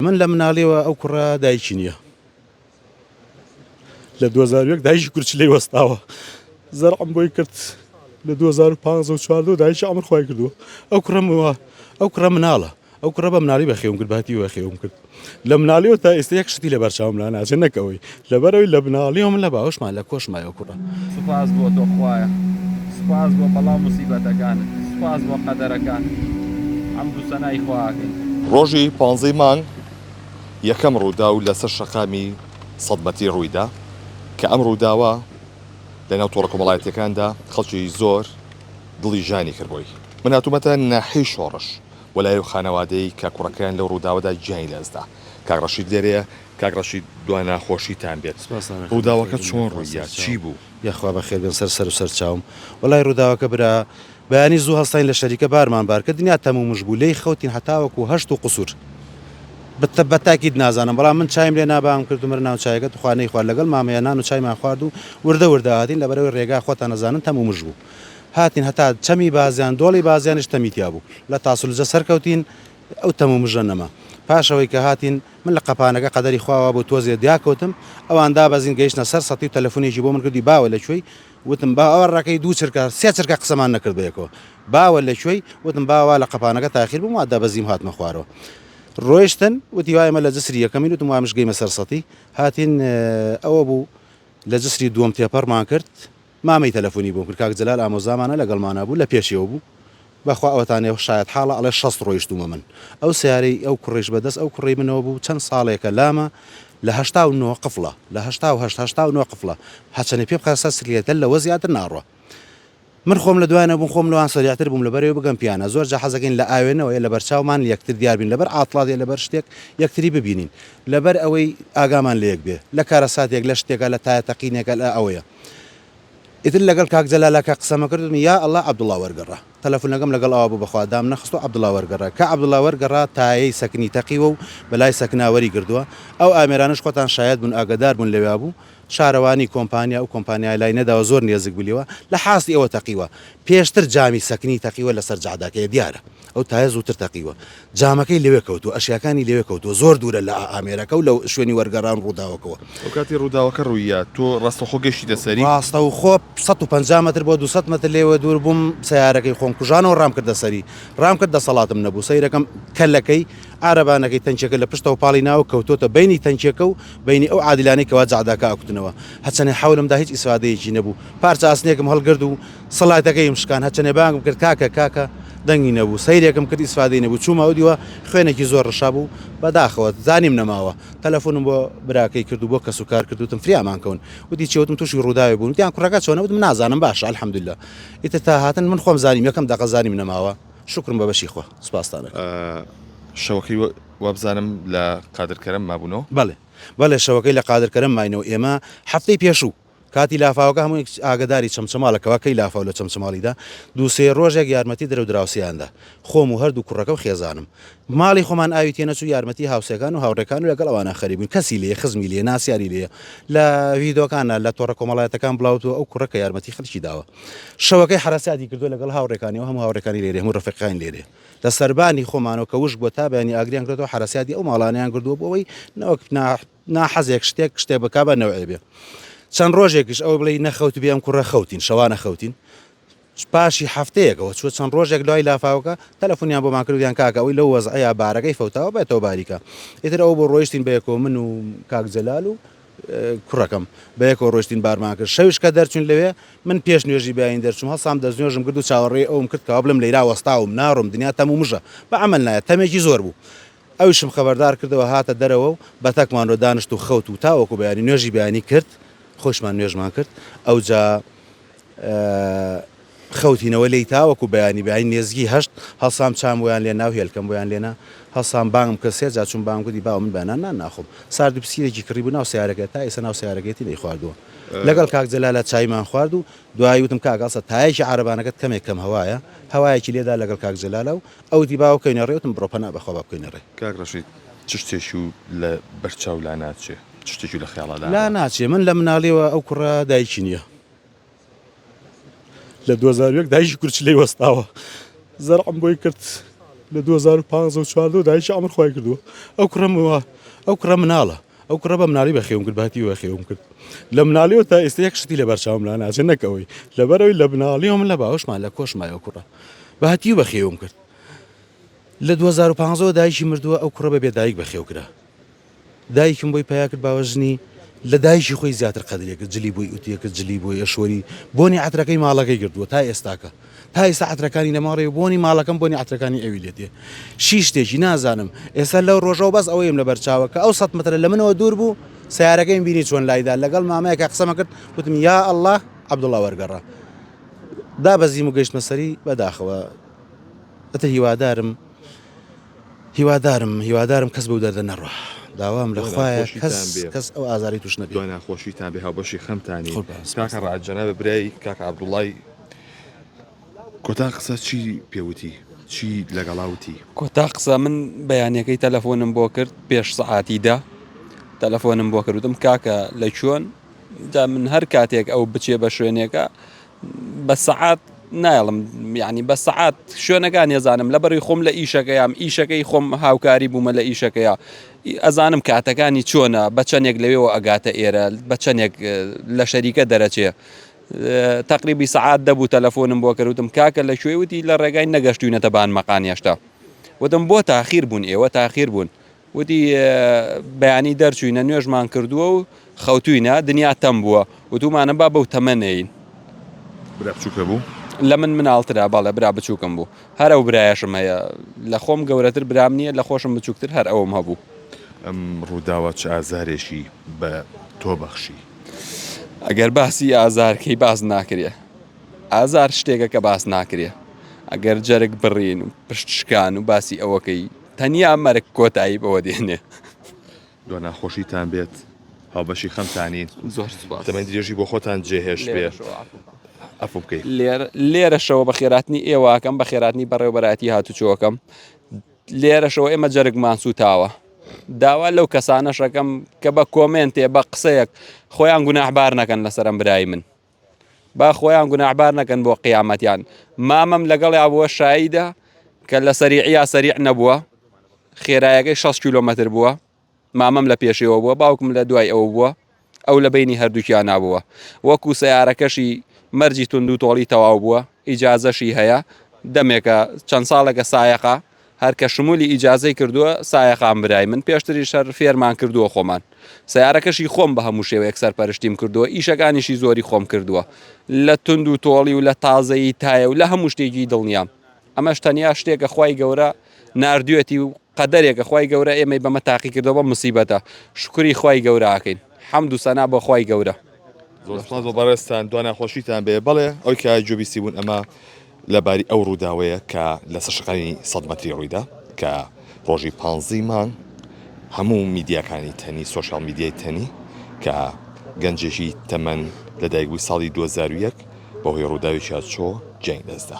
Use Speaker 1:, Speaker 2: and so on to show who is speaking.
Speaker 1: من لە مناڵیەوە ئەو کوڕە دایکی نییە لە 2001 دایکی کورچ لی وەستاوە زەرعم بۆی کرد لە 2015 دایکی ئەمر خۆی کردووە ئەو کوڕمەوە ئەو کوڕە مناڵە ئەو کوڕە بە مناڵی بەخێوم کرد باتی وەخێوم کرد لە مناڵیەوە تا ئێستا یەک شتی لە بەرچاوم لا ناچێت نەکەوەی لەبەرئەوەی لە بناڵی و من لە باوەشما لە کۆش مایەوە کوڕە. سوپاس بۆ تۆ
Speaker 2: خوایە سوپاس بۆ بەڵا موسیبەتەکانت سوپاس بۆ قەدەرەکان حەمد و سەنای خوا ئەکەین. ڕۆژی پانزەی
Speaker 3: مانگ یەکەم ڕووداو لەسەر شەقامی سەد مەتری ڕوویدا، کە ئەم ڕووداوە لەناو تۆڕە کۆمەڵایەتییەکاندا خەڵکی زۆر دڵی ژانی کرد بۆی. من هاتوومەتە ناحیەی شۆڕش و لای ئەو خانەوادەی کە کوڕەکەیان لەو ڕووداوەدا گیانی لەدەستدا. کاک ڕەشید لێرەیە. کاک ڕەشید دوا ناخۆشیتان بێت ڕووداوەکە چۆن ڕوویە چی بوو؟ یاخوا بەخێر بێن سەر
Speaker 1: سەرو سەرچاوم وەلای ڕووداوەکە برا بەیانی زوو هەستاین لە شەریکە بارمان بار کرد دنیا تەموو مژ بوو لێی خەوتین هەتاوەکو هەشت و قوسور بتە بەتاکید نازانم بەڵام من چایم لێ نا بانگم کرد ومرن ناو چایەکە توخوا نەیخوارد لەگەڵ مامەیە نان و چایمان خوارد و وردە وردە هاتین لەبەرەوەی ڕێگا خۆتان ئەزانن تەموو مژ بوو هاتین هەتا چەمی بازیان دۆڵی بازیانیش تەمی تیا بوو لە تاسلوجە سەرکەوتین ئەو تەم و مژە نەما. پاش ئەوەی کە هاتین، من لە قەپانەکە قەدەری خوا وابوو تۆزێ دیاکەوتم، ئەوان دابەزین گەیشتنە سەر سەتی و تەلەفونێکی بۆ من کردی باوە لە کوێی؟ وتم با ئەوە ڕێکەی دوو چرکە، سێ چرکە قسەمان نەکرد بە یەکەوە. باوە لە کوێی؟ وتم با وا لە قەپانەکە تاخیر بووم وا دەبەزیم هاتمە خوارەوە. ڕۆیشتن، وتی وا ئێمە لە جسری یەکەمین وتم وامش گەیمە سەر سەتی. هاتین ئەوە بوو لە جسری دووەم تێپەڕمان کرد، مامەی تەلەفونی بۆم کرد کاک جەلال ئامۆزامانە لەگەڵمانا بوو لەپێشیەوە بوو بەخوا ئەوەتانێ شایەت حاڵە ئەڵێ شەست ڕۆیشتومە من ئەو سەیارەی ئەو کوڕەیش بەدەست ئەو کوڕەی منەوە بوو چەن ساڵێکە لامە لە هەشتا و نۆ قفڵە لە هەشتا و هەشت هەشتا و نۆ قفڵە هەچەنێ پێ بخە سەر سکلێتە لەوە زیاتر ناڕوا من خۆم لە دوای نەبووم خۆم لەوان سەریعتر بووم لەبەرەوە بگەم پیانە زۆر جا حەزەکەین لە ئاوێنەوە یە لەبەر چاومان یەکتر دیار بین لەبەر عاتڵات یە لەبەر شتێک یەکتری ببینین لەبەر ئەوەی ئاگامان لە یەک بێ لە کارەساتێک لە شتێکە لە تایە تەقینێکە لە ئەوەیە ئیتر لەگەڵ کاک جەلالا کە قسەمە کرد وتم یا ئەڵا عەبدوڵا وەرگەڕا تەلەفونەکەم لەگەڵ ئەوا بوو بەخوا دامنەخستو عەبدوڵا وەرگەڕا کە عەبدوڵا وەرگەڕا تایەی سەکنی تەقیوە و بەلای سەکنا وەریگردوە ئەو ئامێرانەش خۆتان شایەد بوون ئاگەدار بوون لەویا بوو شارەوانی کۆمپانیا ئەو کۆمپانیایە لای نەداوە زۆر نێزک بوو لێوە لە حاستی ئەوە تەقیوە پێشتر جامی سەکنی تەقیوە لەسەر جادەکەیە دیارە ئەو تایە زووتر تەقیوە. جامەکەی لەوێ کەوتووە، ئەشیاکانی لەوێ کەوتووە، زۆر دوورە لە ئامێرەکە و لە شوێنی وەرگەڕان و ڕووداوەکەوە. ئەو کاتی ڕووداوەکە
Speaker 3: ڕووییا، تۆ ڕاستەوخۆ گەشتیتە سەری؟ ڕاستەوخۆ
Speaker 1: سەد و پەنجا مەتر بۆ دوو سەد مەتر لێوە دوور بووم، سەیارەکەی خۆم کوژانەوە ڕامکردە سەری. ڕامکرد، دەسەڵاتم نەبوو سەیرەکەم، کەلەکەی، عارەبانەکەی، تەنکیەکە لە پشتەوە پاڵی ناوە و کەوتۆتە بەینی تەنکیەکە و بەینی ئەو عادیلانەی کەوا جەعداکە ئەکوتنەوە. هەرچەنێ حەولم دا هیچ ئیسفادەیەکی نەبوو. پارچە ئاسنێکم هەڵگرد و. سڵایتەکەیم شکان هەچەنێ بانگم کرد کاکە کاکە دەنگی نەبوو سەیرێکم کرد ئیسفادەی نەبوو چوومەوە دیوە خوێنێکی زۆر ڕشابوو بەداخەوە زانیم نەماوە تەلەفونم بۆ براکەی کرد و بۆ کەس و کار کرد وتم فریامان کەون وتی چی وتم تووشی ڕووداوێ بوون وتیان کوڕەکە چۆنە وتم نازانم باشە الحمدللە ئیتر تا هاتن من خۆم زانیم یەکەم دەقە زانیم نەماوە شوکرم بە بەشی خوا سوپاستان ئەکەم.
Speaker 3: شەوەکەی وابزانم لە قادر کەرەم مابوونەوە. بەڵێ بەڵێ شەوەکەی
Speaker 1: لە قادر کەرەم ماینەوە ئێمە هەفتەی پێشوو کاتی لافاوەکە هەموو ئاگەداری چەمچەماڵەکەوە کەی لافاو لە چەمچەماڵیدا دوو سێ ڕۆژێک یارمەتی درەو دراوسێیاندا خۆم و هەردوو کوڕەکە و خێزانم ماڵی خۆمان ئاوی تێنەچوو یارمەتی هاوسێکان و هاوڕێکان و لەگەڵ ئەوانە خەریک بووین کەسی لێ خزمی لێ ناسیاری لێ لە ویدۆکانە لە تۆڕە کۆمەڵایەتەکان بڵاوتوە ئەو کوڕە کە یارمەتی خەڵکی داوە شەوەکەی حرەسیاتی کردو لەگەڵ هاوڕێکانی و هەموو هاوڕێکانی لێرێ هەموو ڕفقەکان لێرێ لە سەربانی خۆمانەوە کە وشک بۆ تا بەیانی ئاگریان کردو حرەسیاتی ئەو ماڵانیان کردووە بۆ ئەوەی نەوەک ناحەزێک شتێک شتێک بکا بە نەوعێ بێ چەند ڕۆژێکیش ئەوە بڵێ نەخەوت بێم کوڕە خەوتین شەوانە خەوتین پاشی هەفتەیەکەوە چوە چەند ڕۆژێک دوای لافاوکە تەلەفۆنیان بۆ ماکردیان کاکە ئەوی لەو وەزعەیە بارەکەی فەوتاوە بێتەوە باریکە ئیتر ئەو بۆ ڕۆیشتین بەیەکۆ من و کاک جەلال و کوڕەکەم بەیەکۆ ڕۆشتین بارمان کرد شەویش کە دەرچون لەوێ من پێش نوێژی بیاین دەرچوم هەڵسام دەستنوێژم کرد و چاوەڕێ ئەوم کرد کەوا بلم لەیرا وەستاوم ناڕۆم دنیا تەم و مژە بە عمل نایە تەمێکی زۆر بوو ئەویشم خەبەردار کردەوە هاتە دەرەوە و بەتەکمان لۆ دانشت و خەوت و تاوەکو بەیانی نوێژی بەیانی کرد خۆیشمان نوێژمان کرد ئەوجا خەوتینەوە لێی تاوەکو بەیانی بەیانی نێزگی هەشت هەڵسام چام بۆیان لێنا و هێلکەم بۆیان لێنا هەڵسام بانگم کرد سێ جا چووم بانگم کردی باوە من بەیانان نان ناخۆم سارد و پسیرێکی کڕی بوو ناو سەیارەکەی تا ئێستا ناو سەیارەکەیەتی نەیخواردووە لەگەڵ کاک جەلالە چایمان خوارد و دوایی وتم کاک هەڵسە تایەکی عارەبانەکەت کەمێک کەم هەوایە هەوایەکی لێدا لەگەڵ کاک جەلالە و ئەوتی با بکەوینە ڕێ وتم بڕۆ پەنا بەخوا با بکەوینە ڕێ. کاک ڕەشید چ
Speaker 3: شتێکی و لە بەر چاو لا ناچێ چ شتێکی و لە خەیاڵا لا لا ناچێ من لە
Speaker 1: مناڵیەوە ئەو کوڕە دایکی نیە لە دوو هەزار و یەک دایکی کورچلەی وەستاوە زەرعم بۆی کرد لە دوو هەزار و پانزە و چواردە و دایکی عەمر خوای کردووە ئەو کوڕە موا ئەو کوڕە مناڵە ئەو کوڕە بە مناڵی بەخێوم کرد باتی بەخێوم کرد لە مناڵیەوە تا ئێستا یەک شتی لە بەرچاوم لا ناچێت نەکەوەی لەبەرەوەی لە مناڵیەوە من لە باوشمان لە کۆشمایە کوڕە باتی بەخێوم کرد لە 2015 دایکی مردووە ئەو کوڕە بە بێدایک بەخێو کرا دایکم بۆی پیا کرد باوە ژنی لە دایکی خۆی زیاتر قەدرێکە جلی بۆی وتیەکە جلی بۆی ئەشوەری بۆنی عترەکەی ماڵەکەی گردووە تا ئێستاکە پایسە عەترەکانی نەماڕێ و بۆنی ماڵەکەم بۆنی عەترەکانی ئەوی لێ دێ شی شتێکی نازانم ئێستا لەو ڕۆژەوە بەس ئەوەیم لەبەر چاوە کە ئەو سەد مەترە لە منەوە دوور بوو سیارەکەیم بینی چۆن لایدا لەگەڵ مامەیەکە قسەمە کرد وتم یا ئەلله عەبدوڵا وەرگەڕا دابەزیم و گەشتمە سەری بەداخەوە ئەتە هیوادارم هیوادارم هیوادارم کەس بەو دەردە نەڕوا داوام لە خوایە کەس ئەو ئازاری توش نەبێ ناخۆشی تابێ
Speaker 3: هاوبەشی خەمتانی کاکە ڕاجەنە بە برای کاکە عبدوڵای کۆتا قسە چی پێ وتی؟ چی لەگەڵا وتی؟ کۆتا قسە من
Speaker 4: بەیانەکەی تەلەفۆنم بۆ کرد پێش سەعاتی دە تەلەفۆنم بۆ کردم کاکە لە چۆن دا من هەر کاتێک ئەو بچێ بە شوێنێکە بە سەعات نایڵم یعنی بە سەعات شوێنەکان نێزانم لە بەری خۆم لە ئیشەکەیام ئیشەکەی خۆم هاوکاری بوومە لە ئیشەکەیە ئەزانم کاتەکانی چۆنە بە چەندێک لەوێەوە ئەگاتە ئێرە بە چەندێک لە شەریکە دەرەچێ تەقریبی سەعات دەبوو تەلەفۆنم بۆ کردوتم کاکە لە کوێ وتی لە ڕێگای نەگەشتوینەتە بان مەقان هێشتا وتم بۆ تاخیر بوون ئێوە تاخیر بوون وتی بەیانی دەرچوینە نوێژمان کردووە و خەوتوینە دنیا تەم بووە وتومانە با بەو تەمەنەین برا
Speaker 3: بچووکە بوو لە من مناڵترا
Speaker 4: بەڵێ برا بچووکم بوو هەر ئەو برایەشم هەیە لە خۆم گەورەتر برام نییە لە خۆشم بچووکتر هەر ئەوم هەبوو ئەم
Speaker 3: ڕووداوە چ ئازارێکی بە تۆ بەخشی ئەگەر
Speaker 4: باسی ئازارکەی باس ناکرێ ئازار شتێکە کە باس ناکرێ ئەگەر جەرگ بڕین و پشت شکان و باسی ئەوەکەی تەنیا مەرگ کۆتایی بەوە دێنێ دوا
Speaker 3: ناخۆشیتان بێت هاوبەشی خەمتانین زۆر دەمە
Speaker 4: درێژی بۆ خۆتان
Speaker 3: جێهێش بێ ئەف بکەیت لێرە لێرەشەوە بە
Speaker 4: خێراتنی ئێواکەم بە خێراتنی بەڕێوبەراتی هاتوچۆکەم لێرەشەوە ئێمە جەرگمان سووتاوە. داوا لەو کەسانەش ئەکەم کە بە کۆمێنتێ بە قسەیەک خۆیان گوناحبار نەکەن لەسەرم برای من با خۆیان گوناحبار نەکەن بۆ قیامەتیان مامەم لەگەڵ یاوە شایدە کە لە سەریعە سەریع نەبووە خێرایەکەی 6 کیلومتر بووە مامم لە پێشێوە بووە باوکم لە دوای ئەو بووە ئەو لە بینی هەردووکیان نابووە وەکو سیارەکەشی مەرجی توندو تۆڵی تەواو بووە ئیجازەشی هەیە دەمێکە چەند ساڵێکە سایەقە هەر کە شمولی ئیجازەی کردووە سایەقام برای من پێشتری شەر فێرمان کردووە خۆمان سیارەکەشی خۆم بە هەموو شێوەیەک سەرپەرشتیم کردووە ئیشەکانیشی زۆری خۆم کردووە لە توندو تۆڵی و لە تازەیی تایە و لە هەموو شتێکی دڵنیام ئەمەش تەنیا شتێکە خوای گەورە ناردوێتی و قەدەرێکە خوای گەورە ئێمەی بەمە تاقی کردەوە بە مسیبەتە شکری خوای گەورە ئاکەین حەمد و سەنا بۆ خوای گەورە زۆرسپاس بۆ
Speaker 3: بەڕێستان دو ناخۆشیتان بێ بەڵێ ئەو کە جوبیسی بوون ئەمە لەباری ئەو ڕووداوەیە کە لەسەر شقامی سەد مەتری ڕوویدا کە ڕۆژی پانزی مانگ هەموو میدیاکانی تەنی سۆشیال میدیای تەنی کە گەنجێکی تەمەن لە دایکبووی ساڵی 2001 بەهۆی ڕووداوی چاچۆ گیانی دەستدا.